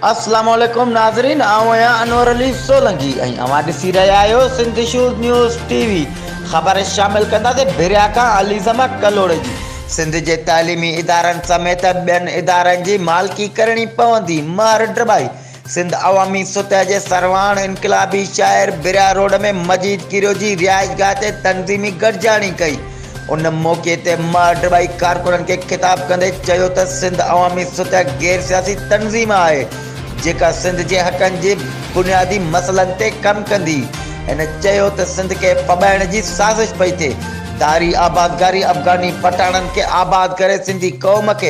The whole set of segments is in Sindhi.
السلام عليڪم ناظرين آئون آهيان انور علي سولنگي ۽ اوهان ڏسي رهيا آهيو Sindh shows news TV خبر شامل ڪنداسين ڀريا کان عليزما ڪلهوڙي جي سنڌ جي تعليمي ادارن سميت ٻين ادارن جي مالڪي ڪرڻي پوندي ماهر ڊبائي سنڌ عوامي سطح جي سرواڻ انقلابي شاعر بريا روڊ ۾ مجيد ڪيرو جي رهائشگاهه تي تنظيمي گڏجاڻي ڪئي. ان موقعي تي ماڊ ٻائي ڪارڪنن کي خطاب ڪندي چيو ته سنڌ عوامي سطح غير سياسي تنظيم آهي جيڪا سنڌ جي حقن جي بنيادي مسئلن تي ڪم ڪندي. هن چيو ته سنڌ کي ڦٻائڻ جي سازش پئي ٿئي. ڌاري آبادگاري افغاني پٺاڻن کي آباد ڪري سنڌي قوم کي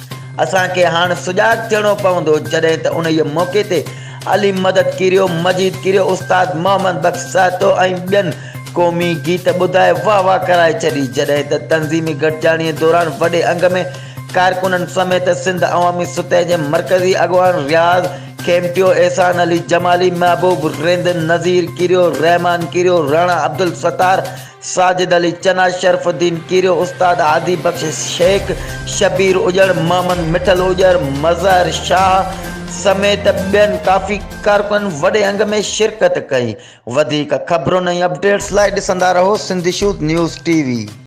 اسان کي هاڻ سجاڳ ٿيڻو پوندو جڏهن ته انهيء موقعي تي علي مدد ڪيريو، مجيد ڪيريو، استاد محمد بخش سهتو ۽ ٻين قومي گيت ٻڌائي واهه واهه ڪرائي ڇڏي جڏهن ته تنظيمي گڏجاڻيء دوران وڏي انگ ۾ ڪارڪنن سميت سنڌ عوامي ستهه جي مرڪزي اڳواڻ رياض کيمٽيو، احسان علي جمالي، محبوب رند، نذير ڪيريو، رحمان ڪيريو، راڻا عبدالستار، ساجد علي چنا، شرف الدين ڪيريو، استاد هادي بخش شيخ، شبير اڄڙ، محمد مٺل اڄڙ، مظهر شاهه سميت ٻين ڪافي ڪارڪنن وڏي انگ ۾ شرڪت ڪئي. وڌيڪ خبرن ۽ اپڊيٽس لاء ڏسندا رهو سنڌ شوڌ نيوز ٽي وي.